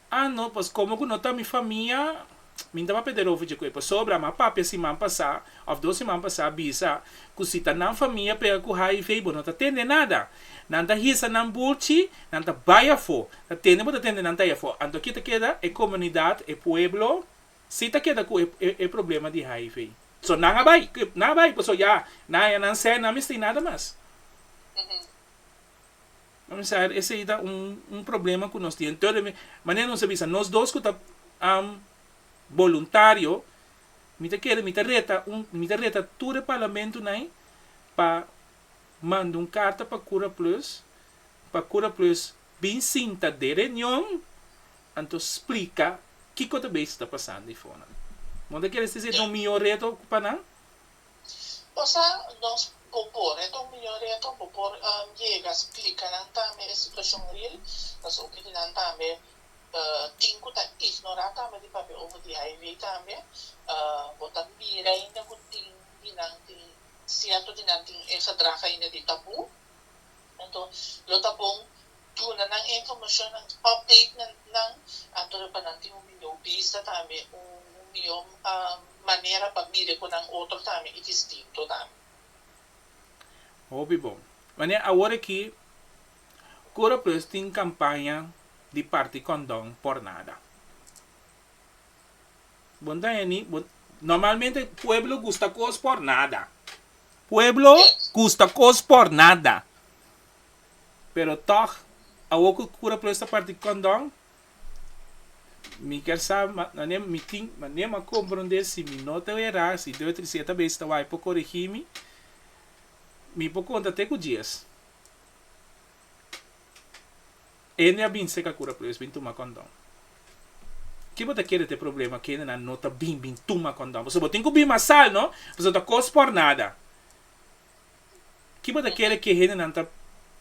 ah no, pues como cu no ta mi famia, min tabapeder over dje cu e pasobra, mi a papia siman pasa, Of dos siman pasá a bisa ku si ta nan famia pega ku hiv bo no ta tende nada. Nan ta hisa nan bulchi, nan ta bai afó. Ta tende bo ta tende nan ta ei afó. Anto aki ta keda e komunidat, e pueblo si ta keda ku e problema di hiv. So nan a bai, nan a bai paso ya nan haña nan sè, nan mester ei nada mas. Bo mester sa esei ta un problema ku nos tin. Entonces manera nos a bisa nos dos ku ta boluntario Mi ta kere, mi ta reta un, mi ta reta tur e parlamentunai pa manda un karta pa Kura Plus, pa Kura Plus bin sinta den reunion, anto splika kiko ta beish ta pasando ei fonan. Bo ta kere si ta un mihó reto pa nan? O sa, nos, bo por, e ta un mihó reto, bo por yega splika nan tambe e situashon ril, pasobra di nan tambe tin ku ta ignorá tambe di papia over di hiv tambe bo ta mira ainda ku tin di nan tin sierto di nan tin e gedrag ainda di tabú enton lo ta bon duna nan e informashon nan update nan anto pa nan tin un mihó bista tambe un mihó manera pa mire ku nan otro tambe i distinto tambe. Hopi bon. Manera awor aki Kura pues tin kampaña di parti kondon por nada. Bo no ta hende, bo, normalmente pueblo gusta kos por nada. Pueblo gusta kos por nada. Pero tòg, awor ku kura pues ta parti kondon, mi kier sa mane mi tin mane m'a komprondé si mi no ta era, si Deo Tricé ta bes ta wak por korigí mi, mi por konta te ku djes. Hende a bin seka kura pero es bin tuma kondon. Ki bo ta kere ta e problema ku hendenan no ta bin bin tuma kondon? Pasobra bo tin ku bin mas sal, no? Pasobra ta kos por nada. Ki bo ta kere ku e hendenan ta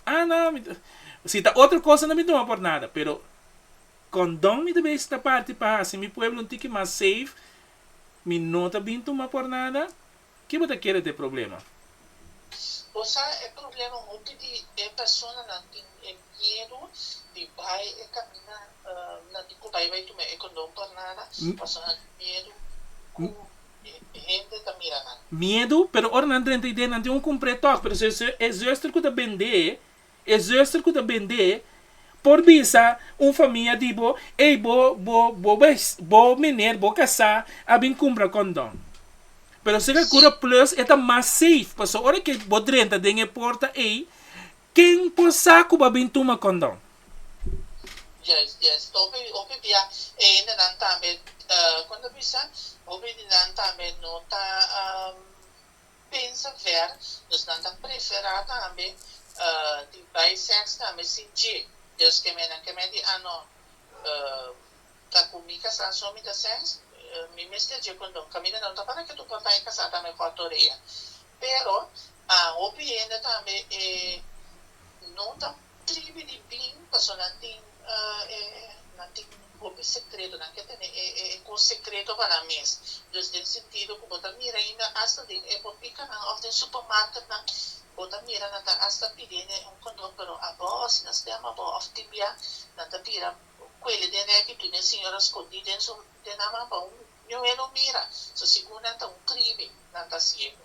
Ah, no, mi ta Si ta otro kos a no bin tuma por nada, pero kondon mi ta bin estra parti pa hasi mi pueblo un tiki mas safe, mi no ta bin tuma por nada. Ke bo ta kere t'e problema? Bo sa e problema hopi di e personanan tin e miedu di bai e camina nan di cu bai bai tuma e condon por nada pasobra nan tin miedu cu e hende ta mira nan. Miedu pero ora nan drenta idee nan tin un cumpre tok pero si e zuster cu ta bende E zuster ku ta bend'é por bisa un famia di bo, Ey, bo, bo, bo ves, bo miner, bo kasá, a bin kumpra kondon. Pero si ka kura plus e ta mas safe, paso ora ke bo drenta den e porta ey, ken por sa ku bo a bin tuma kondon? Yes, yes. Ta hopi, hopi bia e hendenan tambe, kon ta bisa, hopi di nan tambe no ta. pensa ver dus nan ta preferá tambe di bai sèks tambe sin dje dus kemé nan kemé di ano ta ku mi kasá so mi ta sèks mi mester dje kondon kaminda nan ta para ke tur papá e kasá tambe kòt orea pero hopi hende tambe e no ta Tribi di bin paso nan tin e nan tin hopi secreto nan ke tene e e cos secreto pa nan mes dus den sentido cu bo ta mira ainda hasta den e botica nan of den supermarket nan bo ta mira nan ta hasta pidi ne un condom pero abo si nan stem abo of tin bia nan ta bira cuele den reki dune e señora scondi den su den aman pa un ñuhé no mira so segun nan ta un tribi nan ta ciego.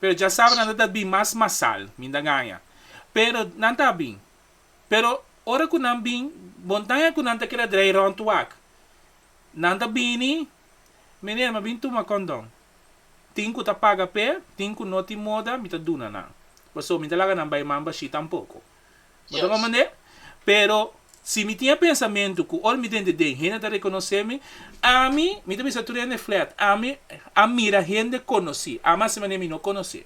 pero dja sabe nan ta ta bin mas masal, mi ta gaña, pero nan ta bin, pero ora cu nan bin, montaña cu nan ta keda draai rond wak, nan ta bini, Meneer, mi a bin tuma condom, tin cu ta paga p'e, tin cu no tin moda, mi ta duna nan, pasobra mi no ta laga nan bay man bashí tampoco. Bo ta mamand'é? Pero, si mi tin e pensamentu ku ora mi den di den hende ta rekonosé mi, ami, mi ta bisa tur hende flèt, ami a mira hende konosí, ama si manera mi no konosé.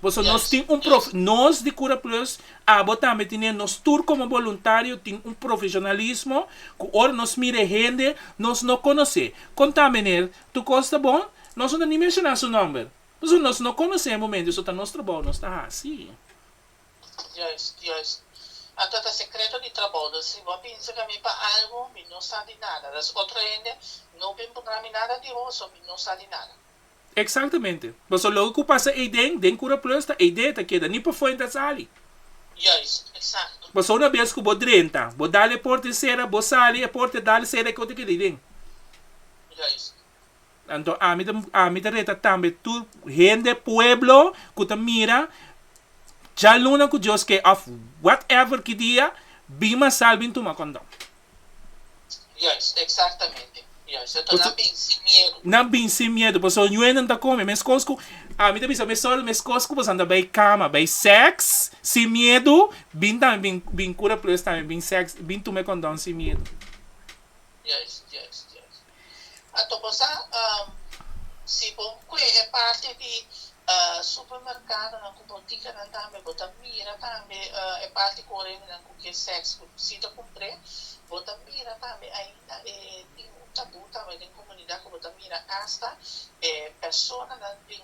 Por eso nos tin un prof, nos di Kura Plus, abo tambe tin'é, nos tur komo boluntario tin un profeshonalismo ku ora nos mira e hende nos no konosé, kon ta meneer Tucosta bon? Nos no ta ni menshoná su nòmber, pasobra nos no konosé e momentu, so ta nos trabou nos ta hasi. Juist, juist. Anto ta sekreto di trabou. Dor si bo a binsa ka mi pa algu, mi no sa di nada. Dor si otro hende no bin puntra mi nada di bo, so mi no sa di nada. Eksaktemente. Pasobra loke ku pasa ei den, den Kura Plus ta ei den, ta keda ni pafuer ni ta sali. Juist, eksakto. Pasobra una bes ku bo drenta, bo dal e porta e sera, bo sali, e porta e dal e sera, e kos ta keda ei den. Juist. Anto ami ta ami ta reta tambe tur hende pueblo ku ta mira djaluna ku Dios ke òf whatever ki dia bin masal bin tuma kondon. Juis, eksaktamente. Juis. Anto nan bin sin miedu. Nan bin sin miedu pasobra nu'e nan ta kome meskos ku ami ta bisa mesol meskos ku boso a bai kama bai sex sin miedu bin tambe bin bin kura plus tambe bin sex bin tume kondon sin miedu. Juis, juis, juis. A toco sa si bo cue e parti di supermercadonan cu boticanan tambe bo ta mira tambe e parti cu orendenan cu kier sex cu si ta cumpr'e bo ta mira tambe ainda e tin un tabú tambe den comunidad cu bo ta mira hasta e personanan den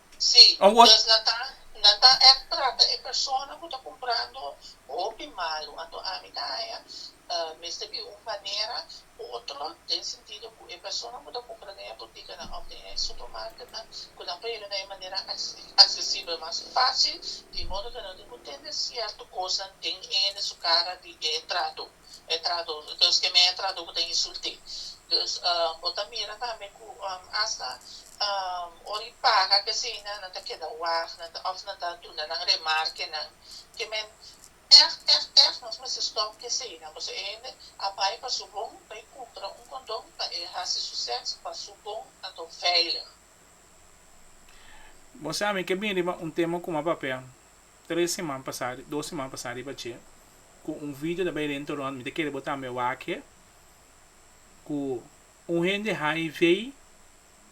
Si, nos na ta na ta èk trata e persona ku ta kumprando hopi malu. Anto ami ta haña mester di un manera u otro den sentido ku e persona ku ta kumpra den e butikinan òf den e supermarketnan ku nan pone nan e manera aksesibel mas fásil di modo ku nan tin ku tende sierto kosnan den ende su kara di e trato. e trado dus ke mea trado ku ta insult'é dus bo ta mira tambe ku asta ora i paga kesina nan ta keda wag nan ta òf nan ta duna nan remarkenan ke men èg èg èg nos mester stòp kesina boso e hende a bai pa su bon bai kumpra un kondon pa e hasi su sèks pa su bon anto veilig. Bo sa mi ke bin riba un tema ku mi a papia. Tres seman pasá, dos seman pasá riba dje, ku un video ta bai rento rònt, mi ta kere bo tambe wak-e, ku un hende hiv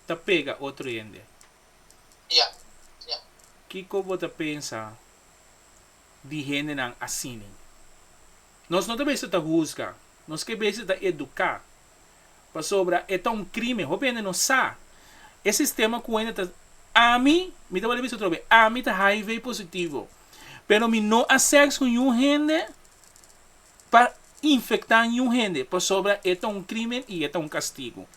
ta pega otro hende. Ya, ya. Kiko bo ta pensa di hendenan asini? Nos no ta besha ta huzga, nos ke besha ta eduká Pasobra e ta un crimen. Hopi hende no sa e sistema cu hende ta Ami, mi ta wòrdu bisa otro be, ami ta hiv positivo, pero mi no a sex cu niun hende pa infecta niun hende pasobra e ta un crimen y e ta un castigo.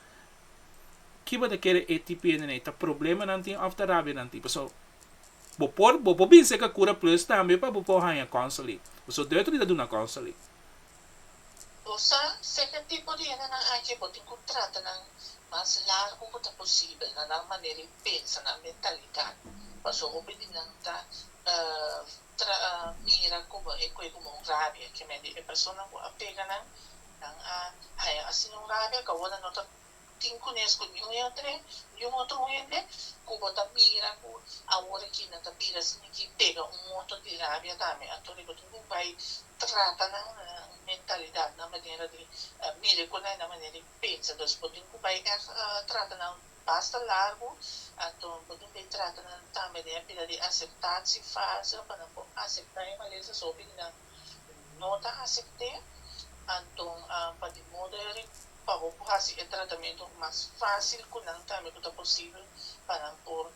Ki bo ta kere e tipo hende ei? Ta problemanan tin of ta rabianan tin? Paso bo por bo por binse ca Cura Plus tambe pa bo por haña counseling. Paso Deutery ta duna counseling. Bo sa seke tipo di hendenan aki bo tin ku trata nan mas largu ku ta posibel na nan manera di pensa, nan mentalidat, paso hopi di nan ta mira komo e kue komo un rabia, ke men di e persona ku a pega nan, nan a haña asina un rabia, kaunda no ta Tin kunes ku niun e a trae niun otro hende ku bo ta mira ku awor aki nan ta bira simi ki pega un moto di rabia tambe. Anto riba tur bo bai trata nan mentalidat, nan manera di mira e kosnan i nan manera di pensa. Entonces bo tin ku bai ègt trata nan basta largu. Anto bo tin bai trata nan tambe den e pila di aseptat si falsa pa nan por aseptá e malesa so hopi di nan. no ta asept'é, anto pa di modo eri pa bo por hasi e tratamentu mas fásil ku nan tambe ku ta posibel pa nan por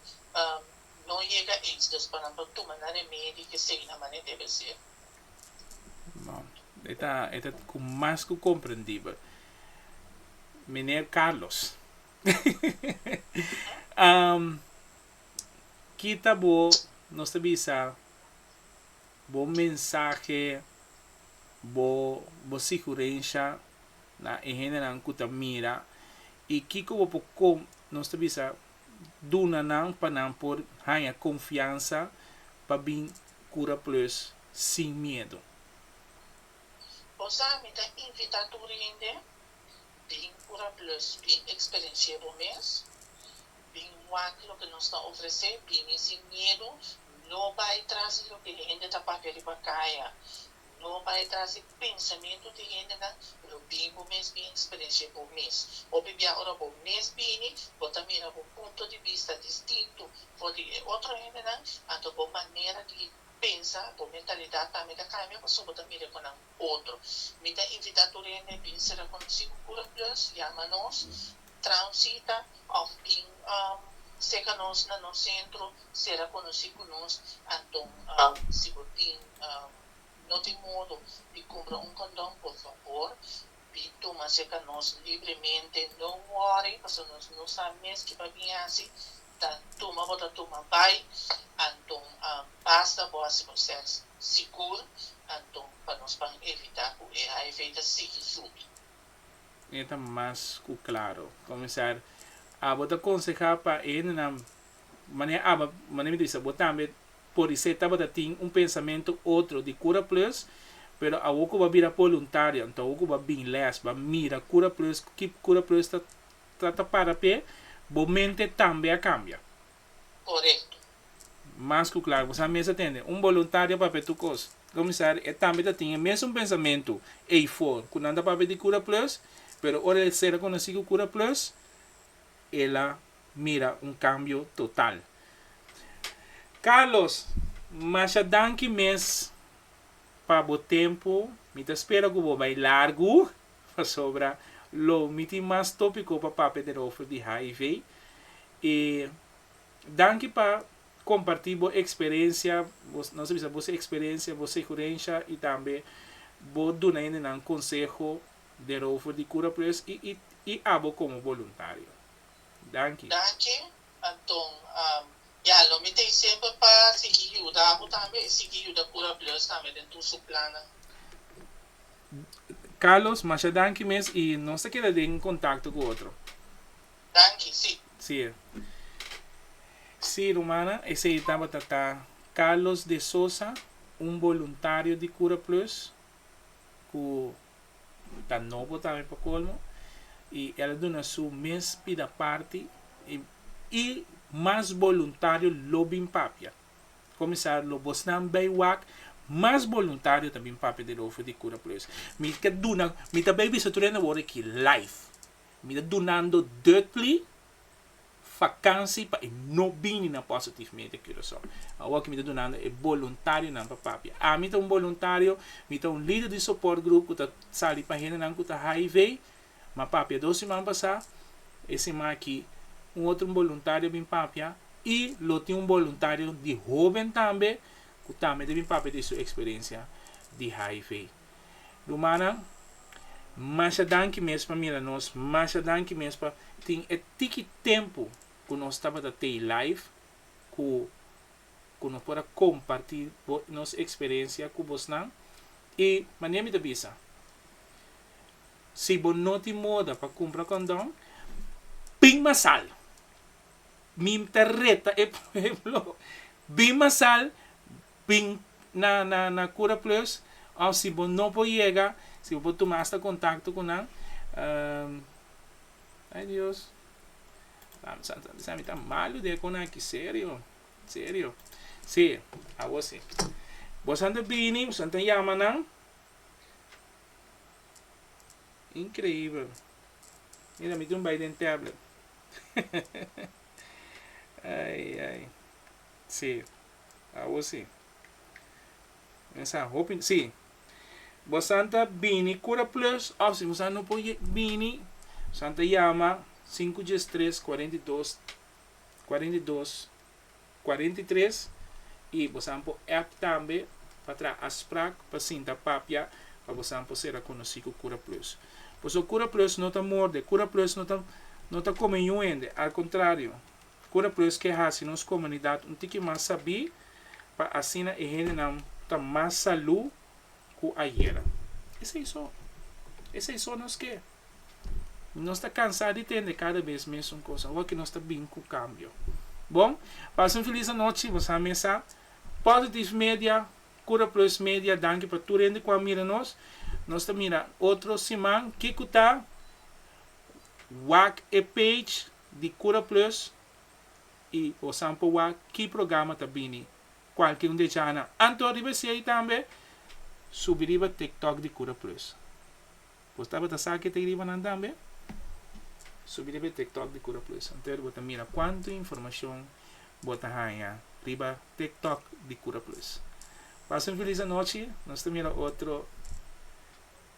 no yega ey dus pa nan por tuma nan remedi i k'esei na manera debe ser. No, e ta e ta ku mas ku komprendibel. Meneer Carlos, kita bo nos ta bisa Bo mensahe, bo bo sigurensha na e hendenan ku ta mira i kiko bo por kom nos ta bisa duna nan pa nan por haña konfiansa pa bin kura plus sin miedu? Bo sa mi ta invitá tur hende, Bin kura plus, bin eksperensié bo mes. Bin wak loke nos ta ofresé, bini sin miedu, no bai tras di loke e hende ta papia riba kaya, no bai tras di pensamentu di hendenan, pero bin bo mes bin eksperensi'é bo mes. Hopi bia ora bo mes bini, bo ta mira bo punto di bista distintu for di e otro hendenan, anto bo manera di pensa, bo mentalidat tambe ta kambia pasobra bo ta mir'é ku nan. otro. Mi ta invita tur hende bin ser rekonosí ku Kura Plus, yama nos, traha un sita òf bin seka nos na nos sentro, ser rekonosí ku nos. Anto si bo tin no tin modo di kumpra un kondon, por fabor bin tuma seka nos libremente, no wòri pasobra nos no sa mes kiba bin hasi, Ta tuma bo ta tuma bai anton basta bo hasi bo ser sigur anton pa nos pan evita cu e hiv ta sigui subi. E ta mas cu claro. Comenzar abo ta conseha pa e hendenan manera aba manera mi ta bisa bo tambe por di ser tabata tin un pensamento otro di Cura Plus pero awo cu bo a bira po luntario anto awo cu bo a bin les bo a mira Cura Plus ki Cura Plus ta Trata para p'e, bo mente tambe a cambia. Corecto. Mas cu claro, bo sa mes a tende un boluntario pap'e tur cos. Comisari, e tambe ta tin e mesun pensamentu ey for, cu nan ta pap'e di Cura Plus, pero ora el ser reconoci cu Cura Plus, el a mira un cambio total. Carlos, masha danki mes pa bo tempo, mi ta spera cu bo bay largu. pasobra lo mi tin mas tópiko pa papia derover di hiv i danki pa kompartí bo eksperensia, nos a bisa bo eksperensia, bo segurensha i tambe bo duna hendenan konseho derover di Kura Plus i abo komo boluntario. Danki. Anton, ya, lo mi ta i semper pa sigui yuda abo tambe i sigui yuda Kura Bleus tambe den tur su plannan. Carlos, masha danki mes i nos ta keda den kontakto ku otro. Danki, si. Si. Si, rumannan, esei tabata ta Carlos de Sosa, un boluntario di Kura Plus ku. ta nobo tambe pa colmo y el a duna su mes pida parti y y mas voluntario lo bin papia comisar lo bosnan bay wak mas voluntario ta bin papia den over di cura plus mi ta duna mi ta bay bisa tur hende awor aki life mi ta dunando duitly. Vakansi pa e no bini na Positive Media Curaçao. Awo ki mi ta dunando e boluntarionan pa papia. Ami ta un boluntario, mi ta un lider di soport grup ku ta sali pa hendenan ku ta hiv, mi a papia dos siman pasá, e siman aki un otro boluntario a bin papia i lo tin un boluntario di hóben tambe ku tambe ta bin papia di su eksperensia di hiv. Rumannan, masha danki mes pa mira nos, masha danki mes pa tin e tiki tempu ku nos tabata tei live ku ku nos por a kompartí bo nos eksperensia ku bosnan. I manera mi ta bisa, si bo no tin moda pa kumpra kondon, bin masal! Mi ta reta e pueblo, bin masal, Bin na na na Cura Plus of si bo no por yega, si bo por tuma asta contacto cu nan. Um, ay Dios, Lami Santo Santo, mi ta malo di e con aki, serio, serio. Si, awor si. Bosan ta bini, bosan ta yama nan. Increibel. Mira, mi dun bay den tablet. Ay, ay. Sí, awor sí. Nan sa hopi, sí. Bosan ta bini Cura Plus of si bosan no por bini, bosan ta yama sinku djes tres kuarenta i dos, kuarenta i dos, kuarenta i tres i bosan por app tambe pa traha afsprak pa sinta papia pa bosan por ser a konosí ku Cura Plus. Pasobra Cura Plus no ta morde, Cura Plus no ta no ta kome yu hende, al kontrario. Cura pues ke haci nos comunidad un tiki mas sabí pa asina e hendenan ta mas salú cu ayera. Esei so. Esei so nos ke. Nos ta cansá di tende cada bes mesun cos. Awo ke nos ta bin cu cambio. Bon, pasa un feliz anochi. Bo sa mesa. Positive Media, Cura Plus Media, danki pa tur hende cu a mira nos. Nos ta mira otro siman. Kico ta? Wak e page. di Cura Plus y bo sa por wak ki programa ta bini cualkier un di e djanan. Anto riba esey tambe subi riba TikTok di Cura Plus. Bo tabata sa ke ta ey ribanan tambe? Subi riba e TikTok di Cura Plus hunter bo ta mira cuanto informacion bo ta haya riba TikTok di Cura Plus. Pasa un feliz anochi. Nos ta mira otro.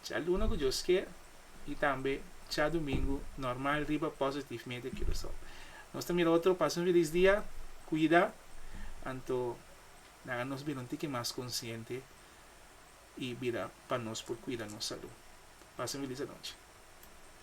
Djaluna ku Dios kier i tambe Djadumingu normal riba Positive Media Curacao. Nos ta mira otro pasa un felis dia, kuida anto nan a nos bira un tiki mas konsiente i bira pa nos por kuida nos salú. Pasa un felis anochi.